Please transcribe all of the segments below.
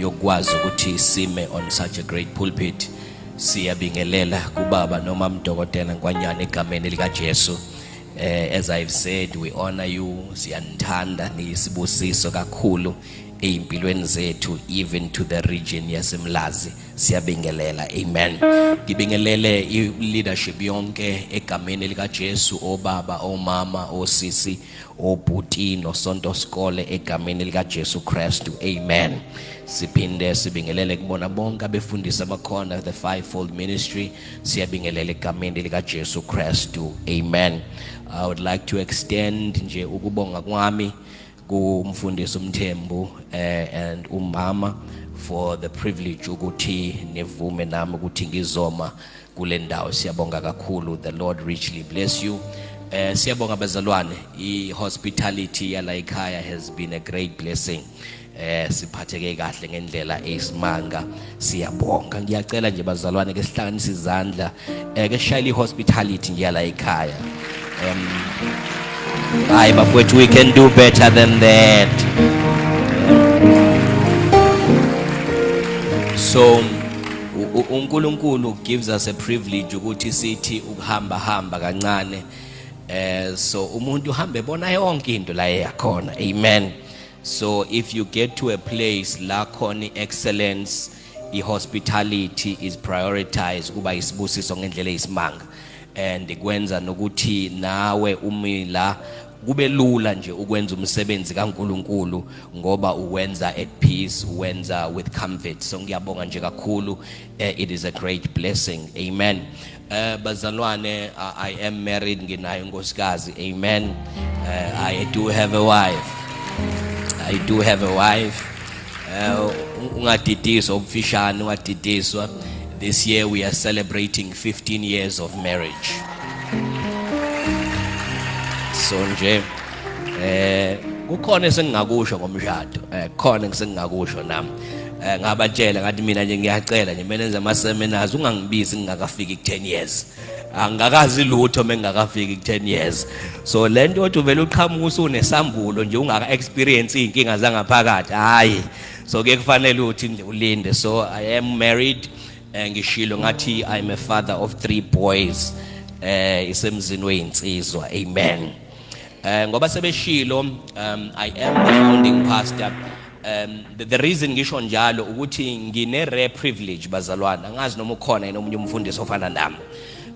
yokwazi ukuthi sime on such a great pulpit siyabingelela kubaba noma mdokotela nkwanyana egameni likaJesu eh as i've said we honor you siyanithanda niyisibusiso kakhulu ezimpilweni zethu even to the region yasemlazi siyabingelela amen ngibingelele i leadership yonke egameni likaJesu obaba omama osisi obhuti nosonto sikole egameni likaJesu Kristu amen siphinde sibingelele kubona bonke abefundisi abakhona the fivefold ministry siyabingelela egameni likaJesu Kristu amen i would like to extend nje ukubonga kwami kumfundisi umthembu eh, and umama for the privilege ukuthi nivume nami ukuthi ngizoma kule ndawo siyabonga kakhulu the lord richly bless you eh siyabonga bazalwane i hospitality yala ekhaya has been a great blessing eh siphatheke kahle ngendlela eyisimanga siyabonga ngiyacela nje bazalwane ke sihlanganise izandla eh ke shayile hospitality ngiyala ekhaya um hayi bafowethu we can do better than that so uNkulunkulu gives us a privilege ukuthi sithi ukuhamba hamba kancane eh so umuntu uhambe bona yonke into la eyakhona amen so if you get to a place la khona excellence i hospitality is prioritized kuba isibusiso ngendlela eyisimanga and kwenza nokuthi nawe umila kube lula nje ukwenza umsebenzi kaNkuluNkulu ngoba uwenza at peace uwenza with comfort so ngiyabonga nje kakhulu eh, it is a great blessing amen eh bazalwane i am married nginayo inkosikazi amen eh, i do have a wife i do have a wife Uh, ungadidiswa ubufishane ungadidiswa this year we are celebrating 15 years of marriage so nje eh kukhona esengingakusho ngomshado eh khona ngisengingakusho nami eh ngabatshela ngathi mina nje ngiyacela nje mina enza ama seminars ungangibizi ngingakafiki ku 10 years angikazi lutho mengakafiki ku10 years so lento othi uvela uqhamuka usunesambulo nje ungaka experience izinkinga zangaphakathi hayi so ke kufanele uthi nje ulinde so i am married eh, ngishilo ngathi i am a father of three boys eh isemzini weyinsizwa amen eh ngoba sebeshilo um i am the founding pastor Um the, the reason ngisho njalo ukuthi ngine rare privilege bazalwana angazi noma ukhona yena omunye umfundisi ofana nami.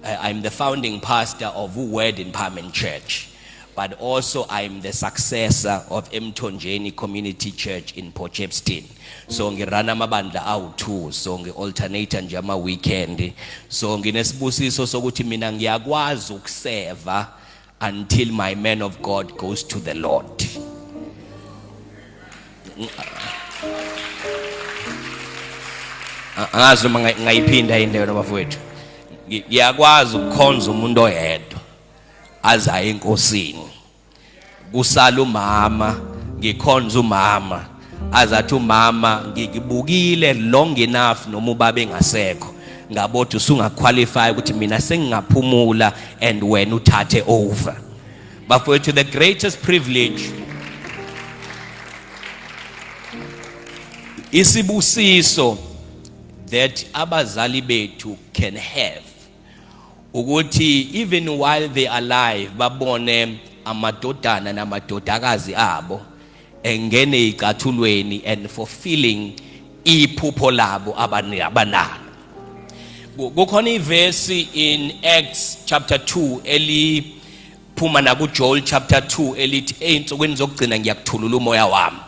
Uh, I'm the founding pastor of Word Empowerment Church but also I'm the successor of Emthonjeni Community Church in Port Shepstone. So ngirana amabandla awu2 so ngialternate nje ama weekend. So nginesibusiso sokuthi mina ngiyakwazi ukuseva until my man of God goes to the Lord. Angazi noma ngayiphinda into yona bafowethu. Ngiyakwazi ukukhonza umuntu oyedwa azaye enkosini. Kusala umama, ngikhonza umama. azathi umama ngikubukile long enough noma ubaba engasekho ngabothi usungaqualify ukuthi mina sengingaphumula and wena uthathe over bafowethu the greatest privilege isibusiso that abazali bethu can have ukuthi even while they alive babone amadodana namadodakazi abo engene eyicathulweni and fulfilling iphupho labo abanalo kukhona ivesi in acts chapter 2 eliphuma nakujoel chapter 2 elithi ey'nsukwini zokugcina ngiyakuthulula umoya wami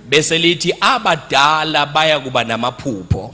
bese lithi abadala baya kuba namaphupho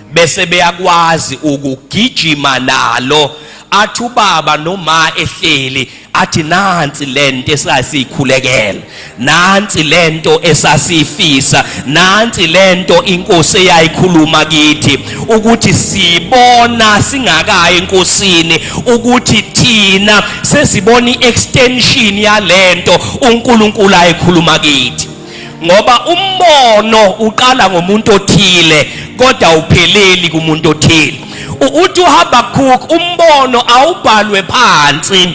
bese beyakwazi ukugijima nalo athi ubaba noma ehleli athi nansi lento esasiyikhulekela nansi lento esasifisa nansi lento inkosi eyayikhuluma kithi ukuthi sibona singakayi enkosini ukuthi thina sesibona iextension yalento uNkulunkulu ayikhuluma kithi ngoba umbono uqala ngomuntu othile kodwa upheleli kumuntu othile uthi uHabakkuk umbono awubhalwe phansi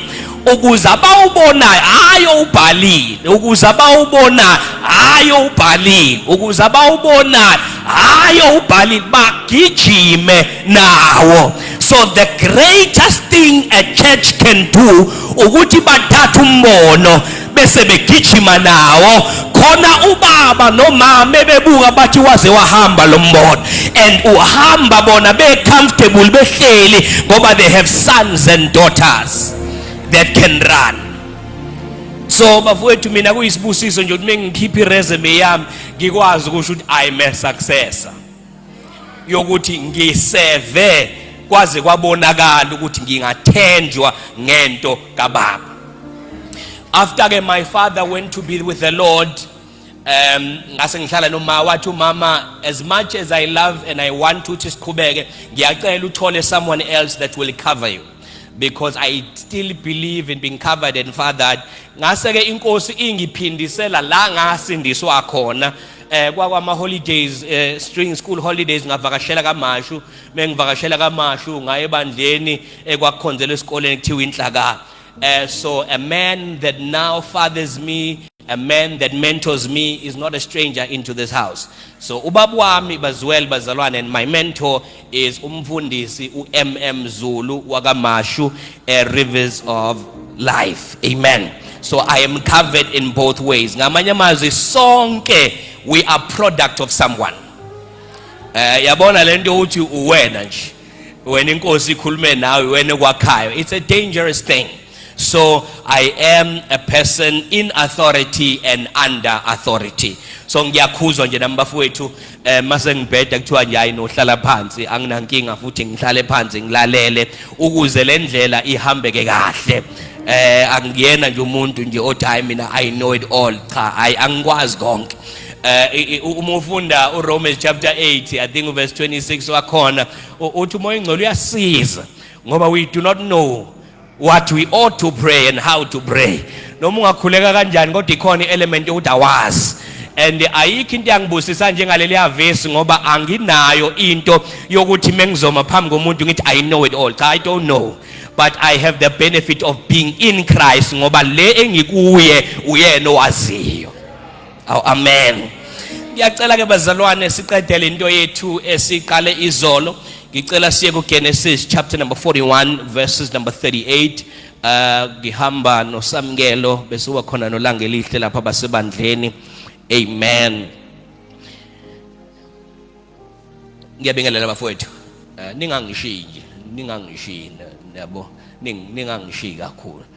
ukuze abawubonayo hayi owubhalile ukuze abawubonayo hayi owubhalile ukuze abawubonayo hayi owubhalile bagijime nawo so the greatest thing a church can do ukuthi bathathe umbono bese begijima nawo khona ubaba nomama bebuka bathi waze wahamba lo mbono and uhamba bona be comfortable behleli ngoba they have sons and daughters that can run so bafowethu mina kuyisibusiso nje ukuthi mengikhipha iresume yami ngikwazi ukusho ukuthi i'm a successor yokuthi ngiseve kwaze kwabonakala ukuthi ngingathenjwa ngento kababa after ke my father went to be with the lord um ngase ngihlala noma wathi umama as much as i love and i want to ukuthi siqhubeke ngiyacela uthole someone else that will cover you because i still believe in being covered and fathered ngase ke inkosi ingiphindisela la ngasindiswa khona eh kwakwama holidays eh string school holidays ngavakashela kamashu mengivakashela kamashu ngaye bandleni ekwakhonzela eh, esikoleni kuthiwa inhlaka eh so a man that now fathers me a man that mentors me is not a stranger into this house so ubaba wami baziwel bazalwane and my mentor is umfundisi uMM Zulu wakaMashu a rivers of life amen so i am covered in both ways ngamanye amazwi sonke we are product of someone eh yabona lento uthi uwena nje wena inkosi ikhulume nawe wena kwakhayo it's a dangerous thing So I am a person in authority and under authority. So ngiyakhuzwa nje nami bafowethu eh mase ngibheda kuthiwa nje hayi nohlala phansi anginankinga futhi ngihlale phansi ngilalele ukuze le ndlela ihambeke kahle. Eh angiyena nje umuntu nje othi hayi mina I know it all cha hayi angikwazi konke. Eh uma ufunda uRomans chapter 8 I think verse 26 wakhona uthi umoya ingcolo uyasiza ngoba we do not know what we ought to pray and how to pray noma ungakhuleka kanjani kodwa ikhona i-element yokuthi awazi and ayikho into yangibusisa njengaleliya vesi ngoba anginayo into yokuthi mengizoma phambi komuntu ngithi i know it all cha i don't know but i have the benefit of being in christ ngoba le engikuye uyena owaziyo aw amen ngiyacela ke bazalwane siqedele into yethu esiqale izolo ngicela siye kuGenesis chapter number 41 verses number 38 uh ngihamba nosamkelo bese wakhona nolanga elihle lapha basebandleni amen ngiyabingelela bafowethu uh, ningangishiyi nje ningangishiyi nabo ningangishiyi kakhulu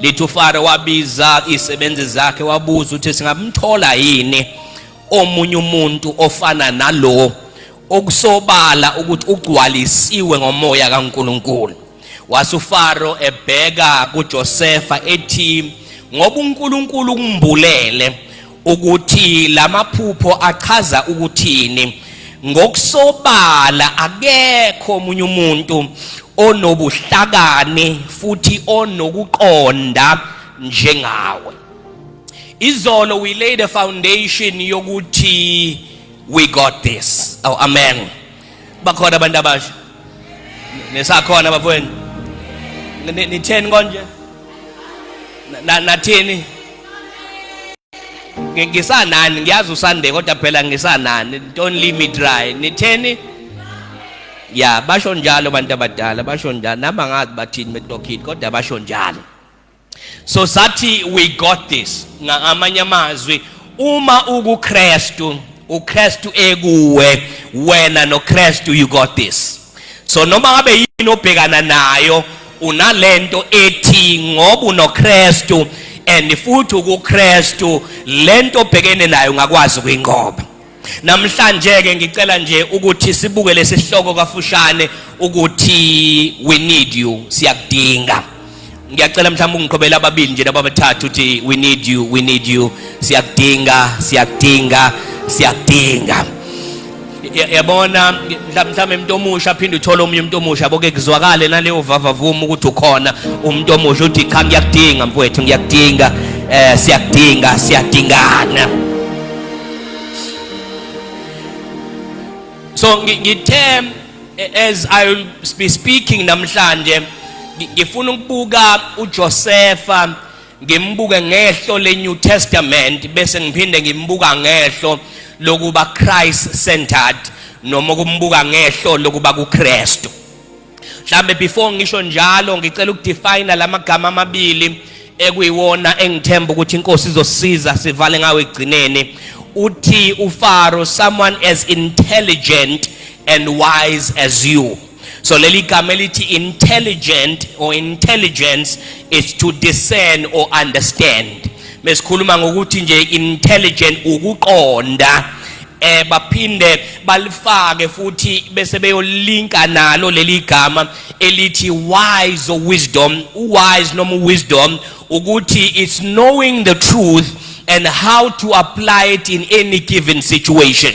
lithi ufaro wabiza isebenzi zakhe wabuza ukuthi singamthola yini omunye umuntu ofana nalo okusobala ukuthi ugcwalisiwe ngomoya kaNkuluNkulu wase uFaro ebheka kuJosefa ethi ngoba uNkuluNkulu ukumbulele ukuthi lamaphupho achaza ukuthini ngokusobala akekho omunye umuntu onobuhlakani futhi onokuqonda njengawe izolo we laid a foundation yokuthi we got this oh amen bakhona abantu abasha nesakhona bafweni nitheni konje nathini ngisanani ngiyazi usande kodwa phela ngisanani don't leave me dry nitheni ya basho njalo abantu abadala basho njalo nami angazi bathini betokini kodwa basho njalo so sathi we got this ngamanye amazwi uma ukuKristu uKristu ekuwe wena noKristu you got this so noma ngabe yini obhekana nayo unalento ethi ngoba unoKristu and futhi ukuKristu lento obhekene nayo ngakwazi ukuyinqoba namhlanje ke ngicela nje ukuthi sibuke lesihloko kafushane ukuthi we need you siyakudinga ngiyacela mhlawumbe ungiqhobela ababili nje laba bathathu ukuthi we need you we need you siyakudinga siyakudinga siyakudinga yabona mhlawumbe umuntu omusha aphinde uthole omunye umuntu omusha boke kuzwakale naleyo vavavuma ukuthi ukhona umuntu omusha uthi cha ngiyakudinga mfowethu ngiyakudinga eh siyakudinga siyadingana so ngithe as i will be speaking namhlanje ngifuna ukubuka uJosefa ngimbuke ngehlo leNew Testament bese ngiphinde ngimbuka ngehlo lokuba Christ centered noma kumbuka ngehlo lokuba kuKristu mhlambe before ngisho njalo ngicela ukudefine lamagama amabili ekuyiwona engithemba ukuthi inkosi izosiza sivale ngawo egcineni uthi ufaro someone as intelligent and wise as you so leli gama elithi intelligent or intelligence is to discern or understand mesikhuluma ngokuthi nje intelligent ukuqonda eh baphinde balifake futhi bese beyolinka nalo leli gama elithi wise or wisdom wise noma wisdom ukuthi it's knowing the truth and how to apply it in any given situation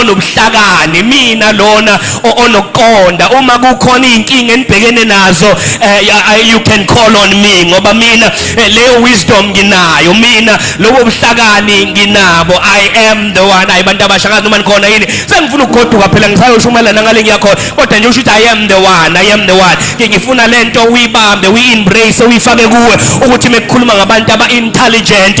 onobuhlakani mina lona onokuqonda uma kukhona izinkinga enibhekene nazo eh, you can call on me ngoba mina eh, leyo wisdom nginayo mina lobo buhlakani nginabo i am the one ayi bantu abasha ngazi noma nikhona yini sengifuna ukugoduka phela ngisayoshumayelana ngale ngiyakhona kodwa nje usho ukuthi i am the one i am the one ke ngifuna lento uyibambe uyi-embrace uyifake kuwe ukuthi mekukhuluma ngabantu aba-intelligent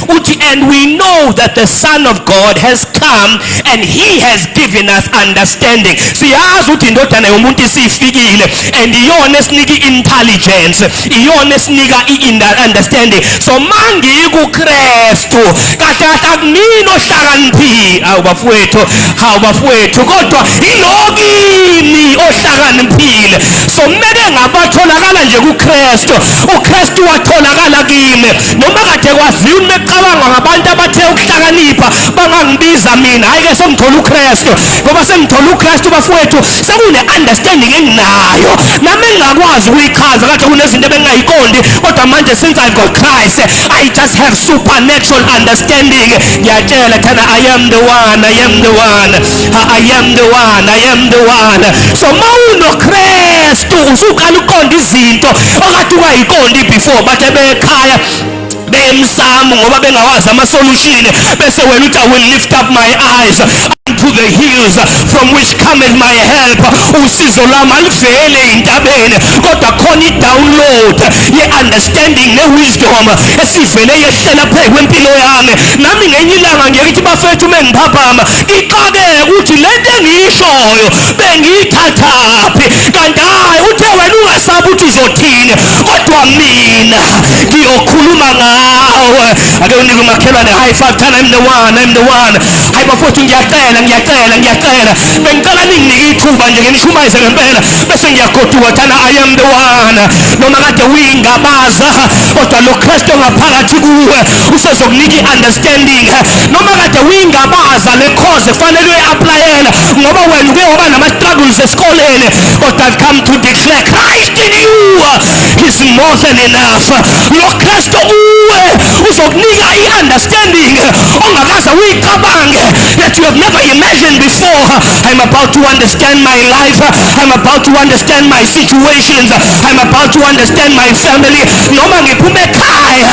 uthi and we know that the son of god has come and he has given us understanding siyazi ukuthi indodana yomuntu isifikile and iyona esinika i-intelligence iyona esinika i-understanding so mangikukristu kahle kahle akunini ohlakaniphile awu bafowethu hawu bafowethu kodwa ilokini ohlakaniphile so kumele ngabatholakala nje kukristu ukristu watholakala kimi noma kade kwaziwa uma ecabanga ngabantu abathe ukuhlakanipha bangangibiza mina hhayi ke sengithola ukristu ngoba sengithola ukristu bafowethu sekune-understanding enginayo nami engingakwazi ukuyichaza kade kunezinto ebengingayiqondi kodwa manje since i got christ i just have supernatural understanding ngiyatshela thana i am the one i am the one I am the one I am the one so mawunokristu usuqala ukuqonda izinto okade ungayiqondi before bathe bekhaya bemsamo ngoba bengawazi amasolution bese wena uthi i will lift up my eyes to the hills from which cometh my help usizo lwami alivele ey'ntabeni kodwa khona i-download ye-understanding ne-wisdom esivele yehlela phezu kwempilo yami nami ngenye ilanga ngeke ithi bafethu uma ngiphaphama Thixo-ke ukuthi le nto engiyishoyo bengiyithathaphi kanti hhayi uthe wena ungasabi ukuthi uzothini kodwa mina ngiyokhuluma ngawe ake unike umakhelwane high five tell him the one I'm the one hayi bafowethu ngiyacela ngiyacela ngiyacela bengicela ninginike ithuba nje nginishumayise ngempela bese ngiyagoduka thana I am the one noma kade uyingabaza kodwa lo Kristu ongaphakathi kuwe usezokunika i-understanding noma kade uyingabaza le course kufanele uyi-aplayela ngoba wena uke waba nama-struggles esikoleni kodwa I've come to declare Christ in you is more than enough lo Kristu kuwe uzokunika i-understanding ongakaze uyicabange that you have never imagined before I'm about to understand my life I'm about to understand my situations I'm about to understand my family noma ngiphume ekhaya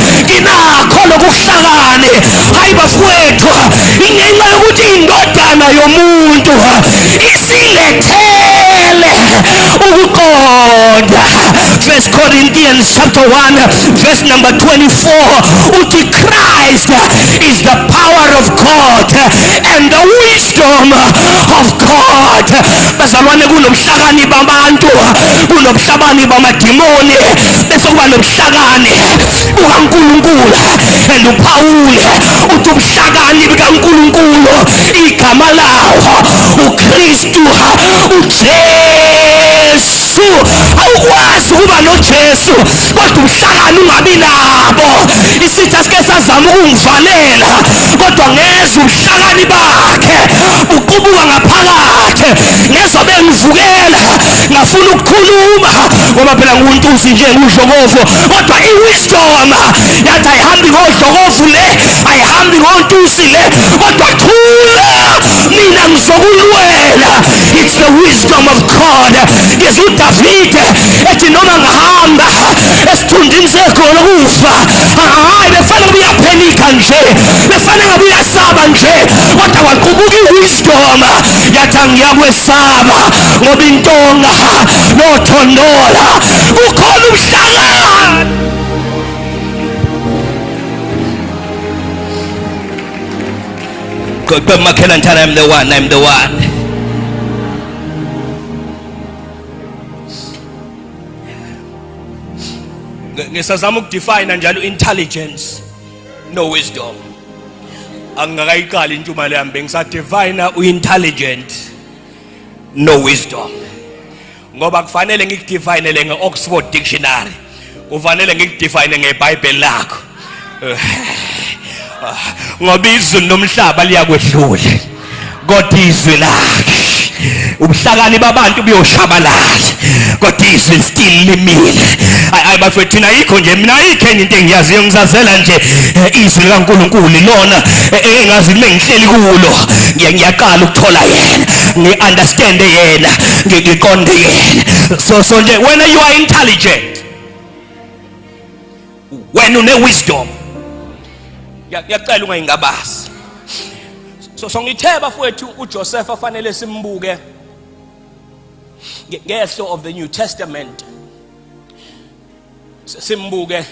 inakho lokuhlakani hayi bafowethu ingenxa yokuthi indodana yomuntu isilethele ukuqonda first corinthians chapter 1 verse number 24 uthi christ is the power of god and the wisdom of god bazalwane kunobuhlakani babantu kunobuhlabani bamadimoni bese kuba nobuhlakani bukaNkulunkulu vele uphawule uthi ubuhlakani bukaNkulunkulu igama lawo uKristu uJesu awukwazi ukuba noJesu kodwa ubuhlakani ungabi nabo isitha sike sazama ukungivalela kodwa ngezwa ubuhlakani bakhe buqubuka ngaphakathi ngezwa bengivukela singafuna ukukhuluma ngoba phela nguntuzi nje ngudlokovu kodwa i-wisdom yathi ayihambi ngodlokovu le ayihambi ngontuzi le kodwa thula mina ngizokulwela it's the wisdom of god ngizwa udavide ethi noma ngihamba esithunjini segolo kufa hayi befana kubuya phenika nje befana ngabe uyasaba nje kodwa kwaqubuka iwis ubuthonga yathi angiyakwesaba ngoba intonga nothondola kukhona umhlangano Good, but Michael and I'm the one, I'm the one. ngisazama ukudefine njalo intelligence no wisdom angingakayiqali intshumayelo yami bengisadivine uintelligent no wisdom ngoba kufanele ngikudivinele nge-oxford dictionary kufanele ngikudefine ngebhayibheli lakho ngoba izulu nomhlaba liyakwedlula kodwa izwi lakhe ubuhlakani babantu buyoshabalala kodwa izwi still limile ayi bafethu thina ayikho nje mina ayikheni into engiyaziyo ngizazela nje eh, izwi likaNkuluNkulu lona eh, eh, engazi kube ngihleli kulo ngiyaqala ukuthola yena ngiunderstand yena ngiqonde yena so so nje wena you are intelligent wena une wisdom ngiyacela ungayingabazi so so ngithe bafowethu uJoseph afanele simbuke ngehlo of the new testament simbuke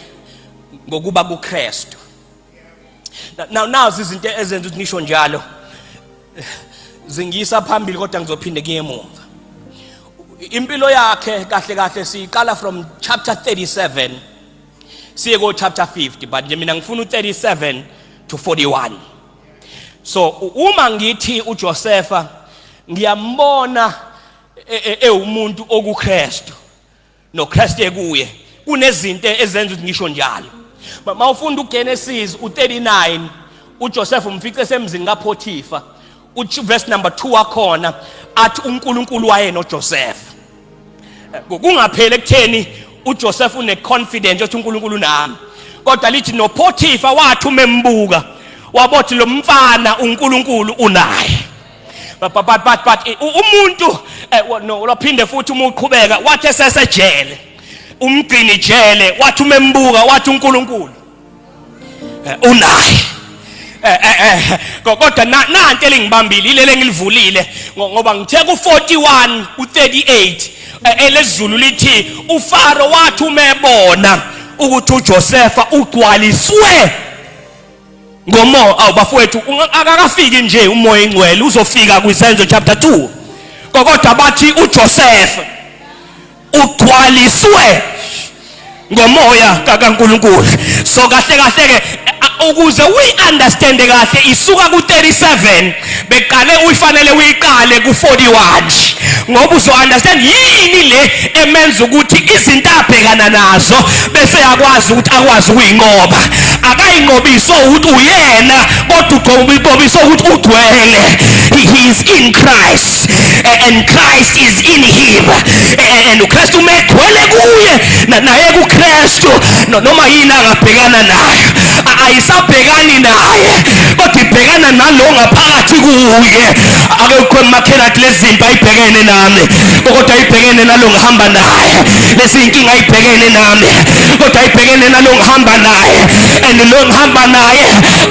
ngokuba kuKristu Now nazi izinto ezenza ukuthi nisho njalo. Zingiyisa phambili kodwa ngizophinde kuye emuva. Impilo yakhe kahle kahle siyiqala from chapter 37 siye ko chapter 50 but nje mina ngifuna u37 to 41. So uma ngithi uJosefa ngiyambona ewumuntu e, e, okuKristu noKristu ekuye kunezinto ezenza ukuthi ngisho njalo mama ufunda uGenesis u39 uJoseph umfice semzini kaPotipha uverse number 2 wakhona athi uNkulunkulu waye noJoseph kungapheli ekutheni uJoseph une confidence ukuthi uNkulunkulu nami kodwa lithi noPotipha wathi umembuka wabothi lo mfana uNkulunkulu unaye but but but but umuntu eh, no ulophinde futhi uma uqhubeka wathi esesejele umgcini jele wathi umembuka wathi uNkulunkulu eh, unaye eh, kodwa nanti elingibambile ilele engilivulile ngoba ngithe ku41 u38 elezulu lithi uFaro wathi umebona ukuthi uJosefa ugcwaliswe ngomoya awu bafowethu akakafiki nje umoya ingcwele uzofika kwisenzo chapter 2 kodwa bathi uJoseph ugcwaliswe ngomoya kaNkuluNkulu so kahle kahle ke ukuze uyiunderstand kahle isuka ku37 beqale uyifanele uyiqale ku-41 ngoba uzo-understand yini le emenza ukuthi izinto abhekana nazo bese yakwazi ukuthi akwazi ukuyinqoba akayinqobiso ukuthi uyena kodwa uqobisa ukuthi ugcwele he is in christ heart and Christ is in him and uKristu megcwele kuye naye kuKristu noma yini angabhekana nayo ayisabhekani naye kodwa ibhekana nalo ngaphakathi kuye akekho emakhela athi lezi zinto ayibhekene nami kodwa ayibhekene nalo ngihamba naye lezi inkinga ayibhekene nami kodwa ayibhekene nalo ngihamba naye and lo ngihamba naye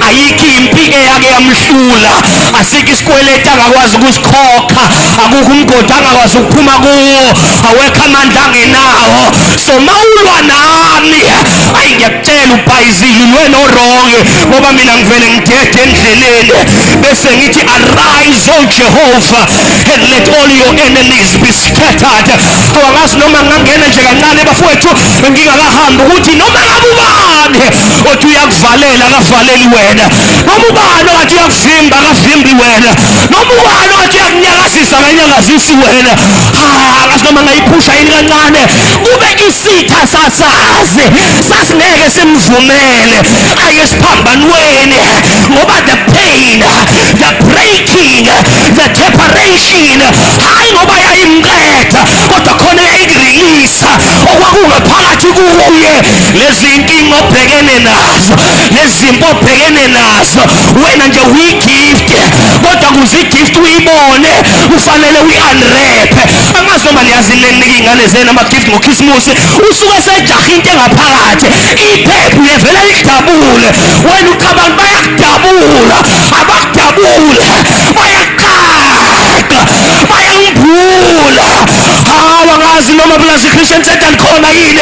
ayikho impi eyake yamhlula asikho isikweleti angakwazi ukusikhokha akukho umgodi angakwazi ukuphuma kuwo awekho amandla angenawo so mawulwa nami ayi ngiyakutshela ubhayizile ulwena orongi ngoba mina ngivele ngidede endleleni bese ngithi arise o jehova and let all your enemies be scattered awangazi noma ngangena nje kancane bafowethu ngingakahambi ukuthi noma ngabe ubani othi uyakuvalela akavaleli wena noma ubani ongathi uyakuvimba akavimbi wena noma ubani ongathi uyakunyakazisa akanyakazisi wena akazi noma ngayiphusha yini kancane kube isitha sasazi sasingeke simvumele aye esiphambanweni ngoba the pain the breaking the separation hayi ngoba yayimqeda kodwa khona yayikirelisa okwakungaphakathi kuye lezi nkinga obhekene nazo nezimpi obhekene nazo wena nje uyigift kodwa kuze igift uyibone kufanele uyi-unrep amazi noma niyazi ninika iy'ngane zenu amagift ngokhisimusi usuke sejaha into engaphakathi iphepha uyevela likudabule wena uthi abantu bayakudabula abakudabule bayaqaqa bayangibhula hawa ngazi noma pulazi christian center likhona yini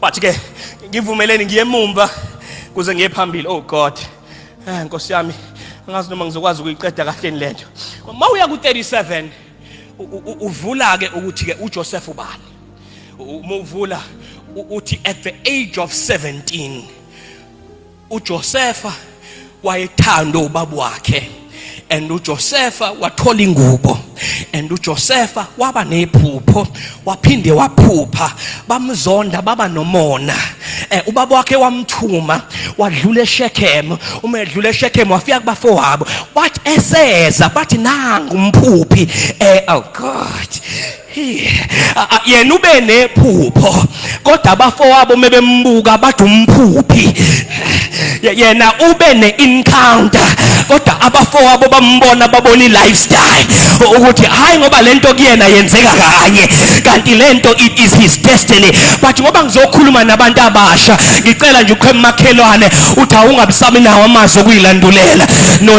Wathi ke ngivumeleni ngiye emumva kuze ngiye phambili. Oh God. Eh Nkosi yami, angazi noma ngizokwazi ukuyiqeda kahle lento. Uma uya ku 37 uvula ke ukuthi ke uJoseph ubani? Uma uvula uthi at the age of 17 uJosefa wayethanda ubaba wakhe and uJosefa wathola ingubo and uJosefa waba nephupho waphinde waphupha bamzonda baba nomona eh ubaba wakhe wamthuma wadlula eShechem uma edlula eShechem wafika kubafowabo wathi eseza bathi nangu umphuphi eh oh god yena ube nephupho kodwa abafowabo mebembuka bathi umphuphi yena ube ne-encounter kodwa abafowabo bambona babona i-lifestyle ukuthi hhayi ngoba le nto kuyena yenzeka kanye kanti le nto it is his destiny but ngoba ngizokhuluma nabantu abasha ngicela nje ukho emakhelwane uthi awungabisami nawo amazwi okuyilandulela no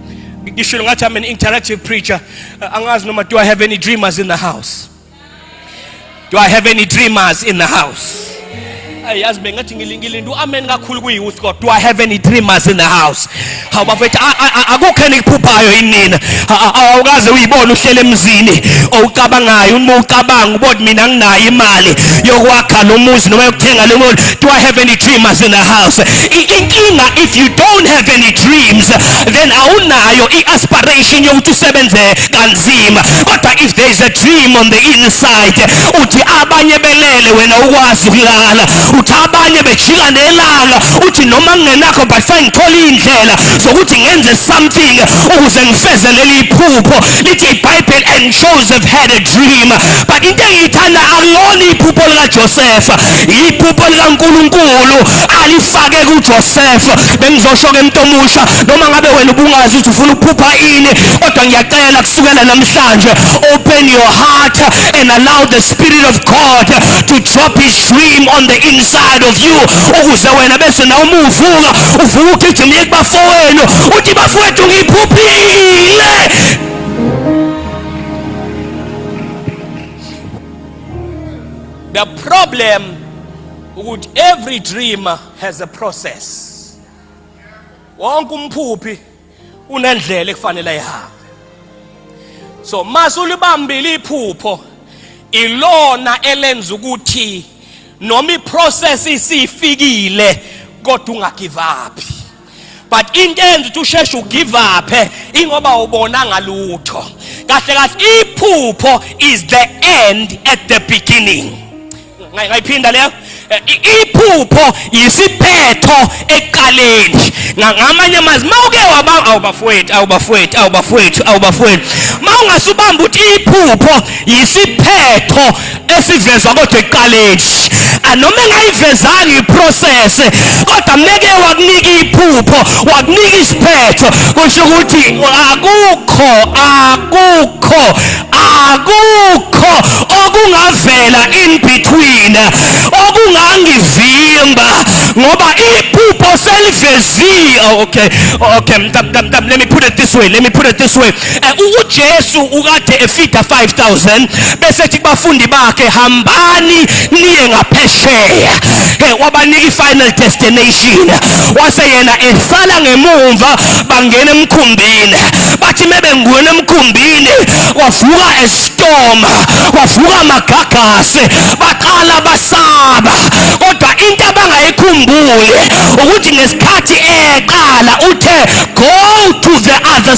ngishilo ngathi i'm an interactive preacher uh, angazi noma do i have any dreamers in the house do i have any dreamers in the house ayazi bengathi ngilingilinda u-amen kakhulu kwi-youth court do i have any dreamers in the house hawu bafethu akukho enikuphuphayo inina awukaze uyibone uhlele emzini owucabangayo uma ucabanga ubona mina nginayo imali yokwakha lo muzi noma yokuthenga lo muzi do i have any dreamers in the house inkinga if you don't have any dreams then awunayo i-aspiration yokuthi usebenze kanzima kodwa if there is a dream on the inside uthi abanye belele wena ukwazi ukulala uthi abanye bejika nelanga uthi noma ngingenakho but fine ngithole iy'ndlela zokuthi ngenze something ukuze ngifeze leli phupho lithi ibhayibheli and joseph had a dream but into engiyithanda akulona iphupho likajosefa iphupho likankulunkulu alifake kujosefa ukuthi bengizosho ke umuntu omusha noma ngabe wena ubungazi ukuthi ufuna ukuphupha ini kodwa ngiyacela kusukela namhlanje open your heart and allow the spirit of God to drop his dream on the inside of you ukuze wena bese nawe uma uvuka uvuka ugijima uye kubafowenu uthi bafowethu ngiphuphile the problem ukuthi every dreamer has a process wonke umphuphi unendlela ekufanele ayihambe so masulibambile iphupho ilona elenza ukuthi noma iprocess isifikile kodwa ungagive up but into enza ukuthi usheshe ugive up ingoba ubona ngalutho kahle kahle iphupho is the end at the beginning ngayiphinda leyo eh, iphupho yisiphetho eqaleni ngamanye amazwi uma uke wabanga awubafowethu awubafowethu awubafowethu awubafowethu uma ungasubamba ukuthi iphupho yisiphetho esivezwa kodwa ekuqaleni anoma engayivezanga iprocess kodwa meke wakunika iphupho wakunika isiphetho kusho ukuthi akukho akukho akukho okungavela in between okungangivimba ngoba iphupho seliveziwe oh, okay okay let me put it this way let me put it this way eh, uJesu ukade efida 5000 bese ethi kubafundi bakhe hambani niye ngaphesheya eh, wabanika i-final destination wase yena esala ngemumva bangena emkhumbini bathi mebengena emkhumbini wavuka estorm wavuka amagagasi baqala basaba kodwa into abangayikhumbuli ukuthi ngesikhathi eqala uthe go to the other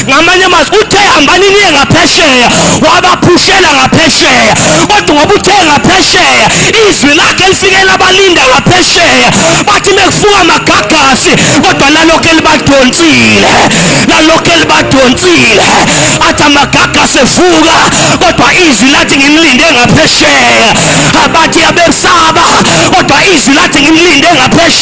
ngamanye amazwi uthe hambani niye ngaphesheya wabaphushela ngaphesheya kodwa ngoba uthe ngaphesheya izwi lakhe lifikela abalinda ngaphesheya bathi mekufuka amagagasi kodwa lalokhu elibadonsile lalokhu elibadonsile athi amagagasi evuka kodwa izwi lathi ngimlinde ngaphesheya abathi abesaba kodwa izwi lathi ngimlinde ngaphesheya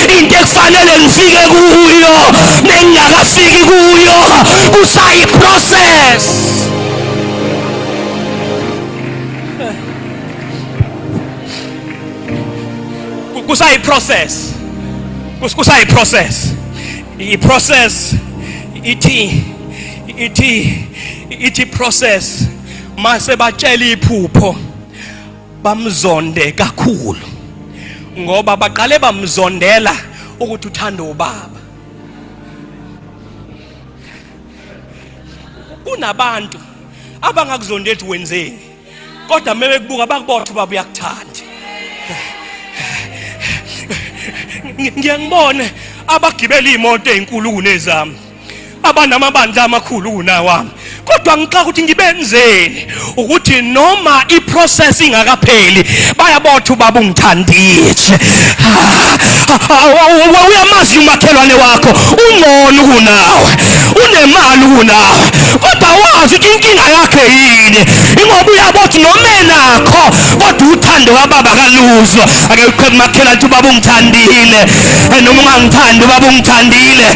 into ekufanele ngifike kuyo nengingakafiki kuyo kusayiprocess kusayiprocess kusayiprocess iprocess ithi ithi ithi process mase batshela iphupho bamzonde kakhulu ngoba baqale bamzondela ukuthi uthanda ubaba kunabantu abangakuzonda ethi wenzeni kodwa uma bekubuka bakubotha ubaba uyakuthanda ngiyangibone abagibela iy'moto ey'nkulu kunezami abanamabandla amakhulu kunawami kodwa ngixaka ukuthi ngibenzeni ukuthi noma iprocess ingakapheli bayabotha ubaba ungithandile uyamazi umakhelwane wakho ungcono kunawe unemali kunawe kodwa wazi ukuthi inkinga yakhe yini ingoba uyabothi noma enakho kodwa uthando kababa kaluzwa ake uqhebe makhelwane ukuthi ubaba ungithandile noma ungangithandi ubaba ungithandile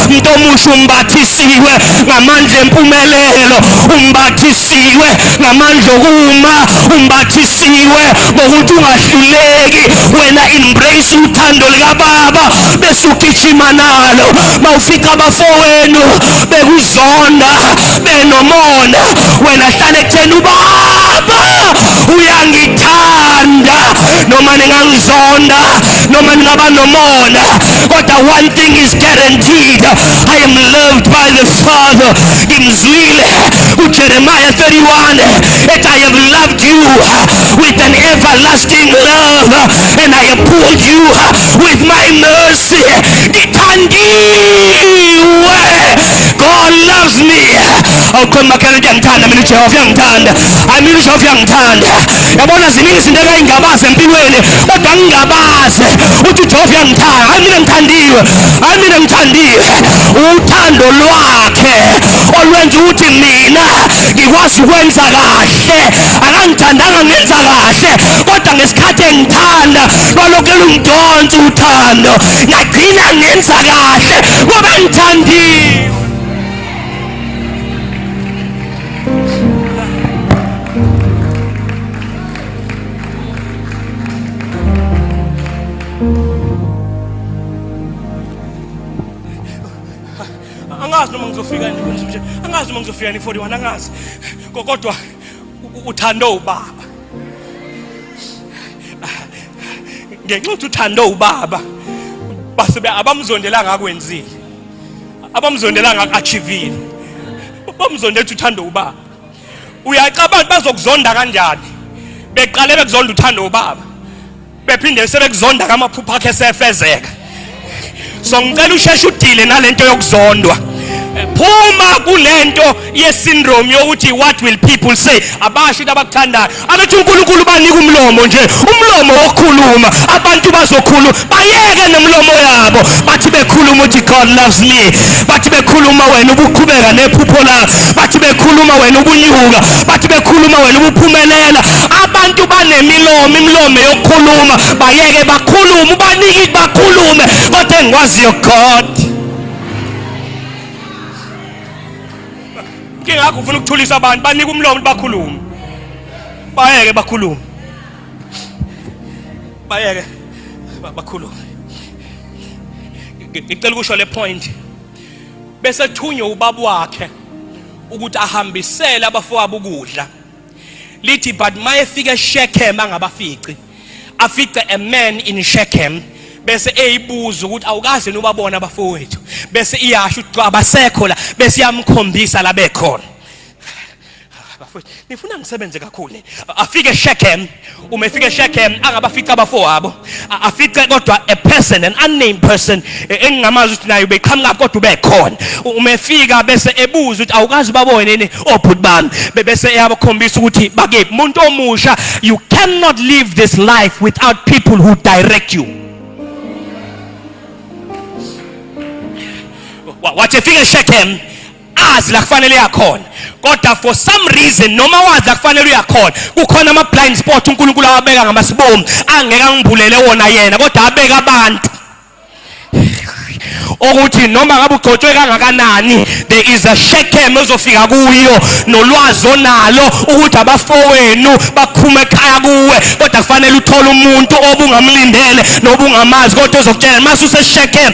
umthindo omusha umbathisiwe ngamandla empumelelo umbathisiwe ngamandla okuma umbathisiwe ngokuthi ungahluleki wena embrace uthando likababa bese ugijima nalo mawufica abafowenu bekuzonda benomona wena hlale ekutheni ubaba uyangithanda noma ningangizonda noma ningaba nomona kodwa one thing is guaranteed i am loved by the father ngimzwile ujeremiya 31 that i have loved you with an everlasting love and i have pulled you with my mercy ngithandiwe god loves me awukhona umakhelwane uyangithanda mina ujehova uyangithanda amina ujehova uyangithanda yabona ziningi izinto engayingabazi empilweni kodwa ngingabazi ukuthi ujehova uyangithanda hayi mina ngithandiwe hayi mina ngithandiwe uthando lwakhe olwenza ukuthi mina ngikwazi ukwenza kahle akangithandanga ngenza kahle kodwa ngesikhathi engithanda lwalokhu lungidonsa uthando ngagcina ngenza kahle ngoba ngithandiwe angazi noma ngizofika nje angazi noma ngizofika ni 41 angazi kodwa uthando ubaba ngenxa ukuthi uthando ubaba base abamzondelanga akwenzile abamzondelanga aku-achivile bamzonda ethi uthanda ubaba uyacabanga bazokuzonda kanjani beqale bekuzonda uthanda ubaba bephinde sebekuzonda kamaphupha akhe sefezeka so ngicela usheshe udile nalento yokuzondwa phuma kulento yesyndrome yokuthi what will people say abasho into abakuthandayo abethi unkulunkulu ubanika umlomo nje umlomo wokukhuluma abantu bazokhuluma bayeke nomlomo yabo bathi bekhuluma ukuthi god loves me bathi bekhuluma wena ubuqhubeka nephupho lakho bathi bekhuluma wena ubunyuka bathi bekhuluma wena ubuphumelela abantu banemilomo imilomo yokukhuluma bayeke bakhulume ubanike bakhulume kodwa engikwaziyo god kingakho ufuna ukuthulisa abantu banika umlomo bakhulume bayeke bakhulume bayeke bakhulume ngicela ukusho le point bese thunywe ubaba wakhe ukuthi ahambisele abafowabo ukudla lithi but mayefika eShechem angabafici afice a man in Shechem bese eyibuza ukuthi awukaze nobabona abafowethu bese iyasho ukuthi abasekho la bese iyamkhombisa la bekhona bafowethu nifuna ngisebenze kakhulu afike eShechem uma efika eshekhem angabafica abafowabo afice kodwa a person an unnamed person e, engingamazi ukuthi naye ubeqhamuka kodwa ubekhona uma efika bese ebuza ukuthi awukazi babone yini obhuti oh, bami bese eyabakhombisa ukuthi bakephi umuntu omusha you cannot live this life without people who direct you wathi efika eshekhem azi la kufanele yakhona kodwa for some reason noma wazi la kufanele uyakhona kukhona ama blind spot uNkulunkulu awabeka ngamasibomu angeke angibulele wona yena kodwa abeka abantu ukuthi noma ngabe ugcotshwe kangakanani there is a shekem ezofika kuyo nolwazi onalo ukuthi abafowenu bakhuma ekhaya kuwe kodwa kufanele uthole umuntu obungamlindele nobungamazi kodwa ozokutshela mase useshekem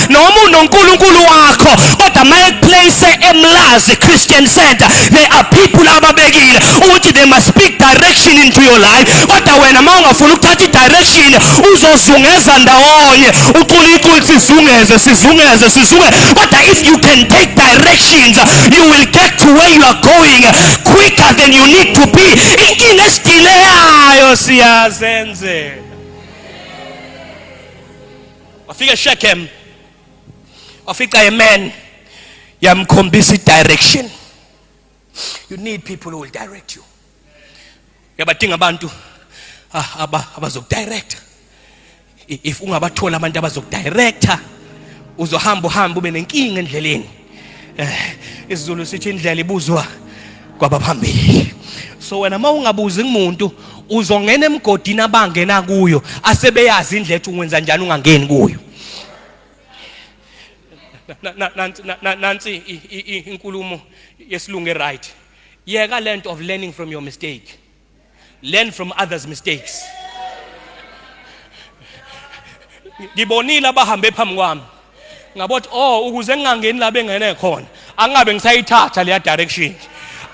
noma unonkulunkulu wakho kodwa uma ekuplace emlazi christian center they are people ababekile ukuthi they must speak direction into your life kodwa wena uma ungafuni ukuthatha i-direction uzozungeza ndawonye ucula iculi sizungeze sizungeze sizungeze kodwa if you can take directions you will get to where you are going quicker than you need to be inkinga esidileyayo siyazenzela wafika eShechem wafica amen yamkhombisa direction you need people who will direct you uyabadinga abantu ah, aba abazokudirect if ungabathola abantu abazokudirector uzohamba uhamba ube nenkinga endleleni eh, isiZulu sithi indlela ibuzwa kwabaphambili so wena uma ungabuzi kumuntu uzongena emgodini abangena kuyo asebeyazi indlela ethi ungenza njani ungangeni kuyo nansi inkulumo yesilungu eright yeka lento of learning from your mistake learn from others mistakes ngibonile abahambe phambi kwami ngabothi oh ukuze ngingangeni la bengene khona angabe ngisayithatha leya direction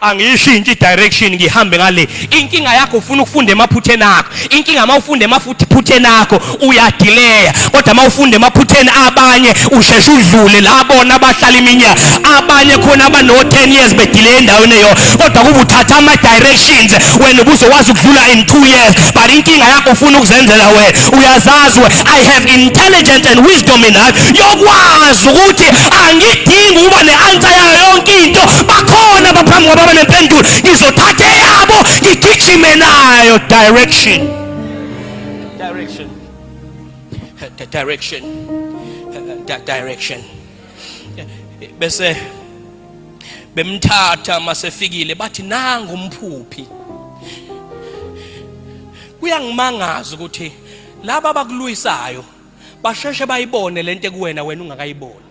angiyishintshe direction ngihambe ngale inkinga yakho ufuna ukufunda emaphutheni akho inkinga uma ufunda emaphutheni akho uyadileya kodwa uma ufunda emaphutheni abanye usheshe udlule la bona abahlala iminyaka abanye khona abano-10 years bedileye endaweni eyo kodwa kuba uthatha ama-directions wena ubuzowazi ukudlula in two years but inkinga yakho ufuna ukuzenzela wena uyazazi we i have intelligence and wisdom in life yokwazi ukuthi angidingi ukuba ne-ansa yayo yonke into bakhona abaphambi kwaba banempendulo ngizothatha eyabo ngigijime nayo direction Direction. The direction. The direction. Bese bemthatha masefikile bathi nangu umphuphi. Kuyangimangaza ukuthi laba abakulwisayo basheshe bayibone lento kuwena wena ungakayiboni.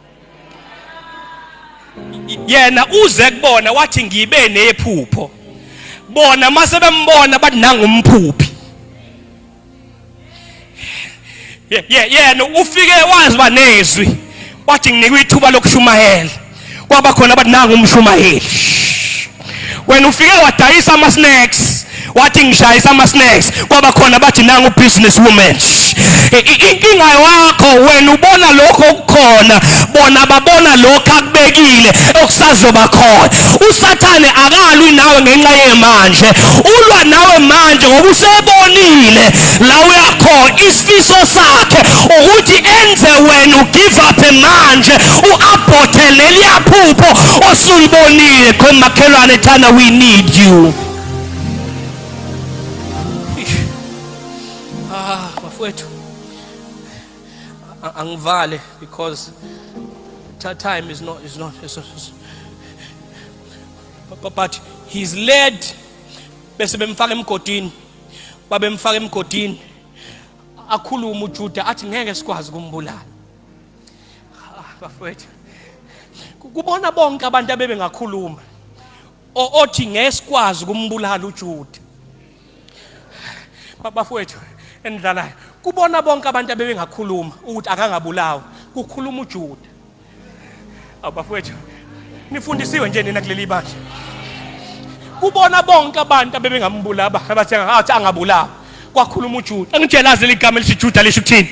yena uze kubona wathi ngibe nephupho bona mase bembona bathi nangumphuphi yena ufike wazi banezwi wathi nginikwe ithuba lokushumayela kwaba khona abathi nangumshumayeli wena ufike wadayisa ama-snacks wathi ngishayisa ama-snacks kwaba khona bathi nangu business woman inkinga yakho wena ubona lokho okukhona bona babona lokho akubekile okusazoba khona usathane akalwi nawe ngenxa yemanje ulwa nawe manje ngoba usebonile la uyakhona isifiso sakhe ukuthi enze wena ugive up manje uabhothe leliya phupho osulibonile khona makhelwane thana we need you ah bafowethu angivale because that time is not is not is not, is not but he's led bese bemfaka emgodini babemfaka emgodini akhulume uJuda athi ngeke sikwazi kumbulala bafowethu kubona bonke abantu abebe ngakhuluma othi ngesikwazi ukumbulala uJuda bafowethu endlalayo kubona bonke abantu abebengakhuluma ukuthi akangabulawa kukhuluma uJuda Abafowethu nifundisiwe nje nina kuleli bandla. Kubona bonke abantu abebengambula abathenga athi angabulawa. Kwakhuluma uJuda. Angitshelazi ligama elithi Juda lisho ukuthini?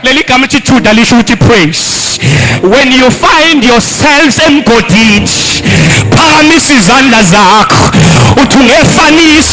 Leli gama elithi Juda lisho ukuthi praise. When you find yourselves emgodini, phakamisa izandla zakho. Uthi ungefanisa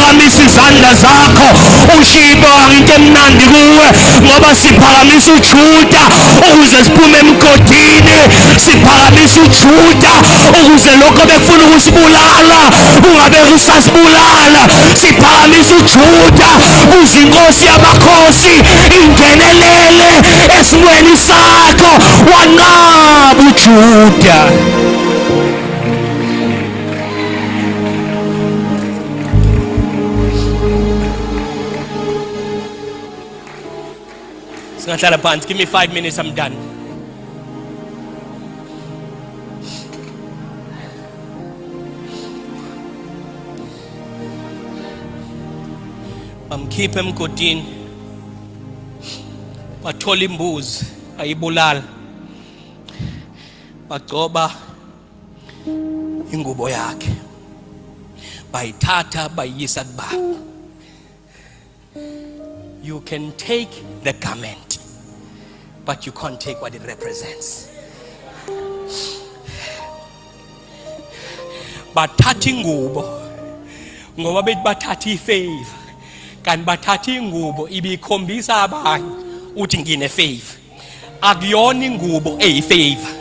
phakamisa izandla zakho ushiye ibanga into emnandi kuwe ngoba siphakamisa ujuda ukuze siphume emgodini siphakamisa ujuda ukuze lokho bekufuna ukusibulala kungabe kusasibulala siphakamisa ujuda kuze inkosi yamakhosi ingenelele esimweni sakho wanqaba ujuda Singahlala phansi. Give me 5 minutes I'm done. Bamkhipha emgodini. Bathola imbuzi ayibulala. Bagcoba ingubo yakhe bayithatha bayiyisa kubaba you can take the garment but you can't take what it represents bathatha ingubo ngoba bethi bathatha ifavor kanti bathatha ingubo ibikhombisa abanye uthi ngine favor akuyona ingubo eyifavor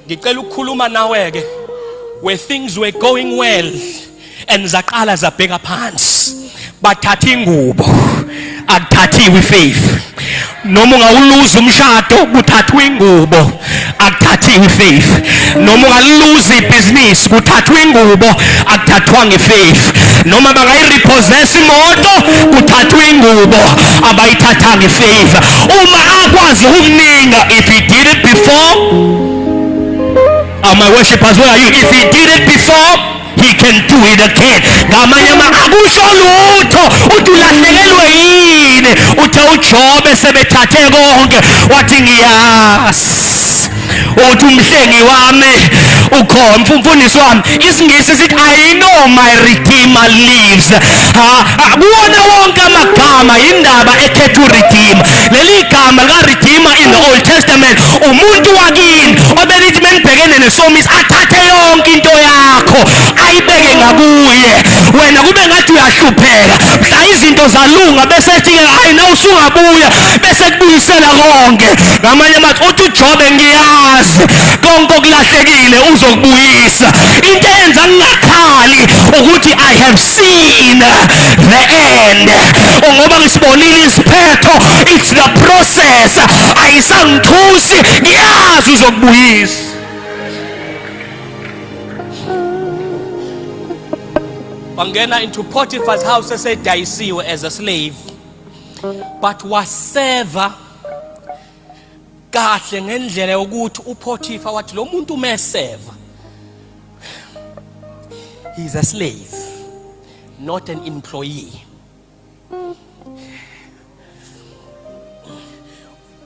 ngicela ukukhuluma nawe ke where things were going well and zaqala zabheka phansi bathatha ingubo akuthathiwe ifaith noma ungawuluza umshado kuthathwa ingubo akuthathiwe ifaith noma ungaluza ibhizinisi kuthathwa ingubo akuthathwanga ifaith noma bangayirepossess imoto kuthathwa ingubo abayithathanga ifaith uma akwazi ukukuninga if he did it before are my worshippers where are you if he did it before he can do it again ngamanye ama akusho lutho uthi ulahlekelwe yini uthe ujobe sebethathe konke wathi ngiyazi uthi umhlengi wami ukhona umfundisi wami isingisi sithi i know my redeemer lives akuwona wonke amagama yindaba ekhetha uredeemer leli gama likaredeemer in the old testament umuntu wakini obenithi menibhekene nesomiso athathe yonke into yakho ayibeke ngakuye wena kube ngathi uyahlupheka mhla izinto zalunga bese ethi-ke hhayi na usungabuya bese kubuyisela konke ngamanye amathi uthi ujobe ngiyazi konke okulahlekile uzokubuyisa into eyenza ngingakhali ukuthi i have seen the end ngoba ngisibonile isiphetho it's the process ayisangithusi ngiyazi uzokubuyisa wangena into Potiphar's house esedayisiwe as a slave but waseva kahle ngendlela yokuthi uPotiphar wathi lo muntu umeseva He is a slave, not an employee.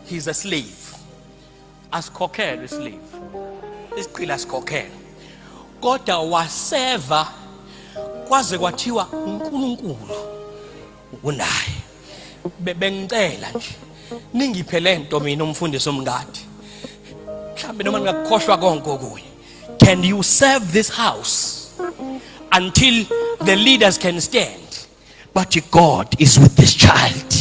He is a slave. Asikhokhelwe islave. Isiqila asikhokhelwe. Kodwa waseva kwaze kwathiwa uNkulunkulu unaye. Bengicela nje ningiphe lento mina umfundisi omngadi. Mhlambe noma ningakukhohlwa konke okunye. can you serve this house until the leaders can stand but god is with this child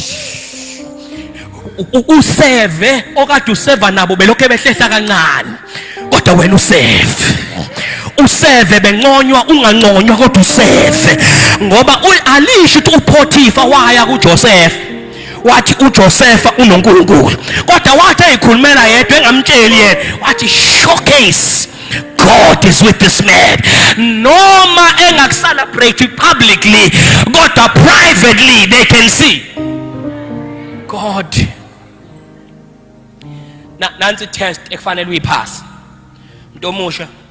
useve okade useva nabo belokhu behlehla kancane kodwa wena useve useve benconywa unganconywa kodwa useve ngoba alisho ukuthi uphotifa waya kujosefa wathi uJosefa unoNkulunkulu kodwa wathi eyikhulumela yedwa engamtsheli yena wathi showcase God is with this man noma engakucelebrate publicly kodwa privately they can see God nansi test ekufanele uyiphase umuntu omusha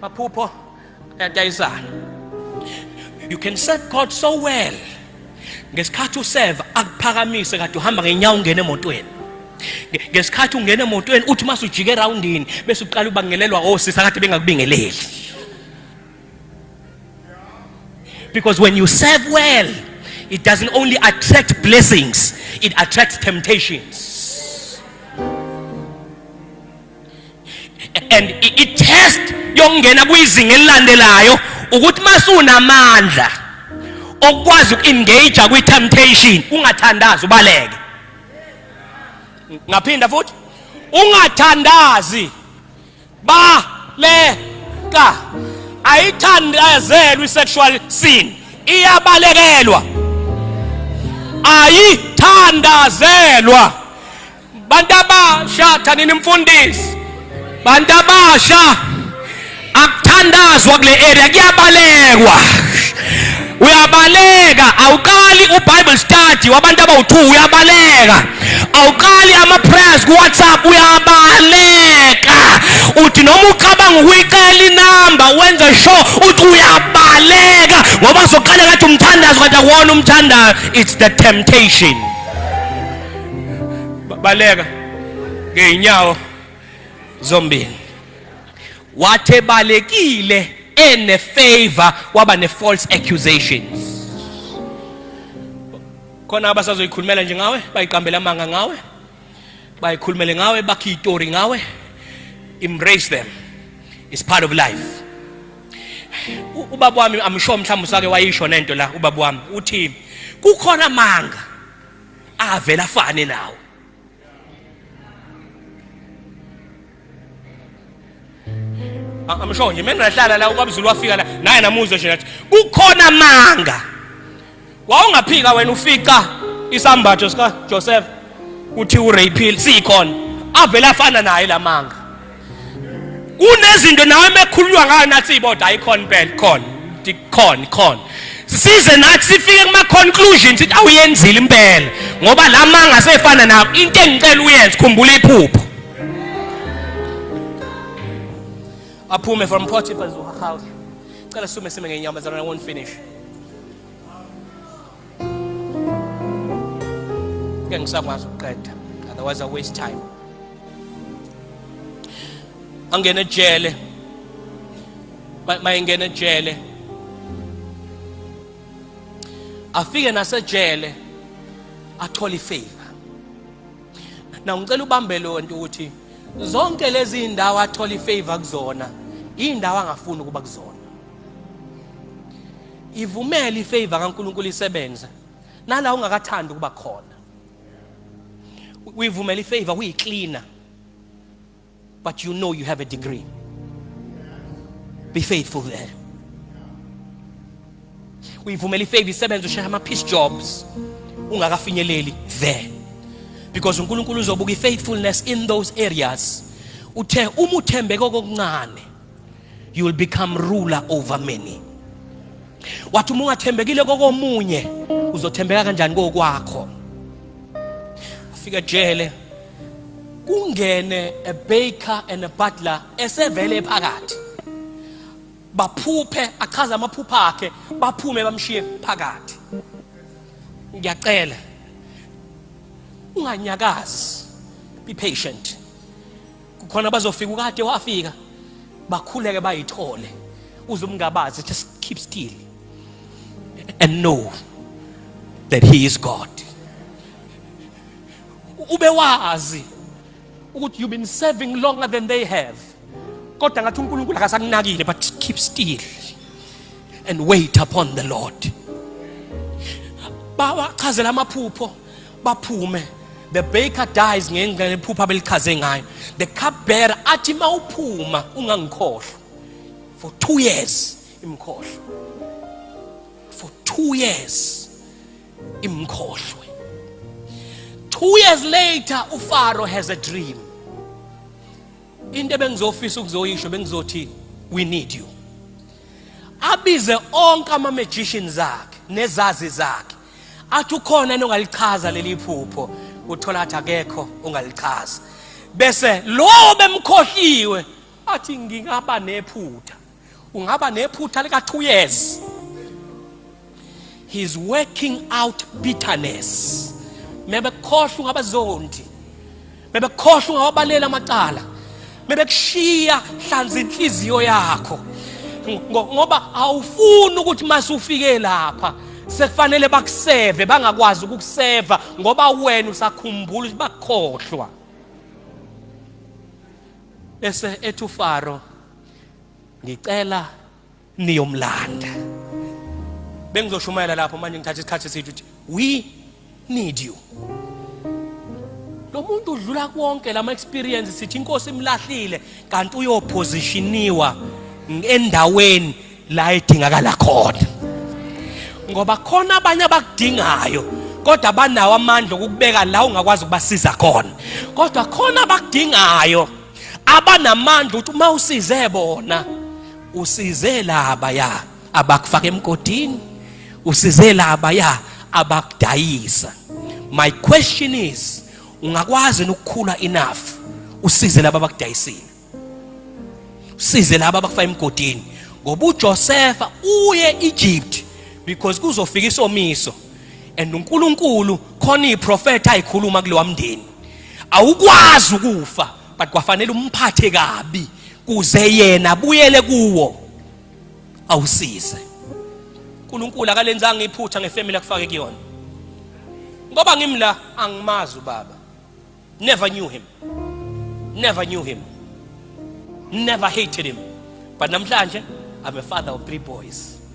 maphupho ayadayisana you can serve god so well ngesikhathi useva akuphakamise kade uhamba ngenyawo ungena emotweni ngesikhathi ungena emotweni uthi uma sujike erawundini bese uqala ubangelelwa osisa kade bengakubingeleli because when you serve well it doesn't only attract blessings it attracts temptations and i-test yokungena kwizinga elilandelayo ukuthi masunamandla okwazi uku-engage kwi-temptation ungathandazi ubaleke ngaphinda futhi ungathandazi baleka ayithandazelwa i-sexual sin iyabalekelwa ayithandazelwa Bantu abasha thanini mfundisi. Bantu abasha akuthandazwa kule area kuyabalekwa. Uyabaleka awuqali uBible study wabantu abawu2 uyabaleka. Awuqali ama prayers ku WhatsApp uyabaleka. Uthi noma ucabanga ukuyicela inamba wenze sure uthi uyabaleka ngoba soqala ngathi umthandazo kanti akuwona umthandazo it's the temptation. baleka ngeyinyawo zombili wathe balekile ene favor waba ne false accusations khona abasazoyikhulumela nje ngawe bayiqambela amanga ngawe bayikhulumele ngawe bakhe itori ngawe embrace them it's part of life ubaba wami amsho mhlawumbe usake wayisho nento la ubaba wami uthi kukhona amanga avela afane nawo amsho nje mengahlala la ubabzulu wafika la naye namuzwe nje nathi kukhona amanga wawungaphika wena ufica isambatho sika Joseph uthi urapil sikhona avela afana naye lamanga kunezinto nawe mekhululwa ngayo nathi iboda ayikhona impela khona khona khona size nathi sifike kuma conclusions sithi awuyenzile impela ngoba la manga sefana nawo into engicela uyenze khumbula iphupho aphume from Potiphar's house cela sume sime ngenyamazana won't finish ngeke ngisakwazi ukuqeda otherwise i waste time angene ejele mayengena ejele afike nasejele athole ifavor na ngicela ubambe lo nto ukuthi zonke lezi indawo athola ifavor kuzona indawo angafuni ukuba kuzona ivumele ifavor kaNkulunkulu isebenze nala ungakathandi ukuba khona uyivumela ifavor uyicleaner but you know you have a degree be faithful there uyivumela ifavor isebenze ushaya ama peace jobs ungakafinyeleli there because uNkulunkulu uzobuka ifaithfulness in those areas uthe uma uthembeke kokuncane you will become ruler over many wathi uma ungathembekile kokomunye uzothembeka kanjani kokwakho afika jele kungene a baker and a butler esevele phakathi baphuphe achaza amaphupha akhe baphume bamshiye phakathi ngiyacela unganyakazi be patient kukhona bazofika ukade wafika bakhuleke bayithole uze umngabazi just keep still and know that he is God ube wazi ukuthi you've been serving longer than they have kodwa ngathi uNkulunkulu akasakunakile but keep still and wait upon the Lord bawachazela amaphupho baphume the baker dies ngenxa yephupha belichaze ngayo the cup bearer athi mawuphuma ungangikhohlwa for 2 years imkhohlwa for 2 years imkhohlwe 2 years later ufaro has a dream into ebengizofisa ukuzoyisho bengizothi we need you abize onke ama magicians akhe nezazi zakhe athi ukhona nongalichaza leli phupho uthola athi akekho ongalichaza bese lowo bemkhohliwe athi ngingaba nephutha ungaba nephutha lika 2 years he's working out bitterness mebekhohlwa ngabazonti bebekhohlwa ungawabalela amacala bebekushiya hlanza inhliziyo yakho ngoba awufuni ukuthi masufike lapha sekufanele bakuseve bangakwazi ukukuseva ngoba wena usakhumbula ukuthi bakukhohlwa bese ethu faro ngicela niyomlanda bengizoshumayela lapho manje ngithatha isikhathi esithi ukuthi we need you lo muntu udlula konke lama experience sithi inkosi imlahlile kanti uyopositioniwa endaweni la edingakala khona ngoba khona abanye abakudingayo kodwa banawo amandla okukubeka la ungakwazi ukubasiza khona kodwa khona abakudingayo abanamandla ukuthi uma usize bona usize laba ya abakufaka emgodini usize laba ya abakudayisa my question is ungakwazi ukukhula enough usize laba abakudayisile usize laba abakufaka emgodini ngoba uJosefa uye Egypt because kuzofika isomiso and uNkulunkulu khona iprofetha ayikhuluma kulewa mndeni awukwazi ukufa but kwafanele umphathe kabi kuze yena buyele kuwo awusize uNkulunkulu akalenzanga iphutha ngefamily akufake kuyona ngoba ngimla angimazi ubaba never knew him never knew him never hated him but namhlanje i'm a father of three boys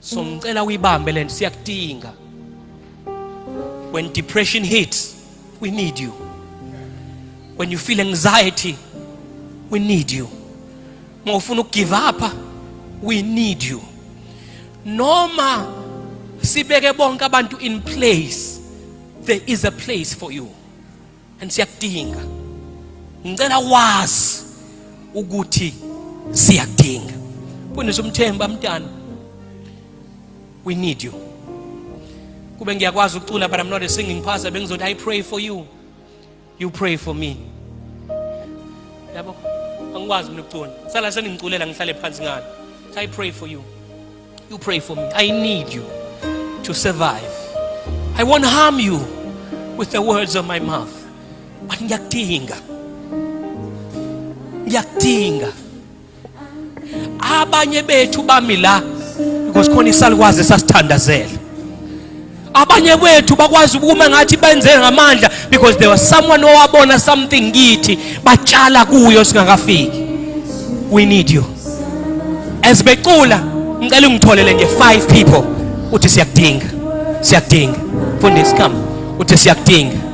so ngicela uyibambe lento siyakudinga when depression hits we need you when you feel anxiety we need you uma ufuna ukugive up we need you noma sibeke bonke abantu in place there is a place for you and siyakudinga ngicela wazi ukuthi siyakudinga fundisa umthemba mntana we need you kube ngiyakwazi ukucula but i'm not a singing pastor bengizothi i pray for you you pray for me yabo angikwazi mina ukucula sala sengingiculela ngihlale phansi ngani so i pray for you You pray for me. I need you to survive. I won't harm you with the words of my mouth. But ngiyakudinga. Ngiyakudinga. Abanye bethu bami la because khona isalukwazi sasithandazela. abanye kwethu bakwazi ukuma ngathi benze ngamandla because there was someone owabona something kithi batshala kuyo singakafiki we need you as becula ngicela ungitholele nje five people uthi siyakudinga siyakudinga fundisi come uthi siyakudinga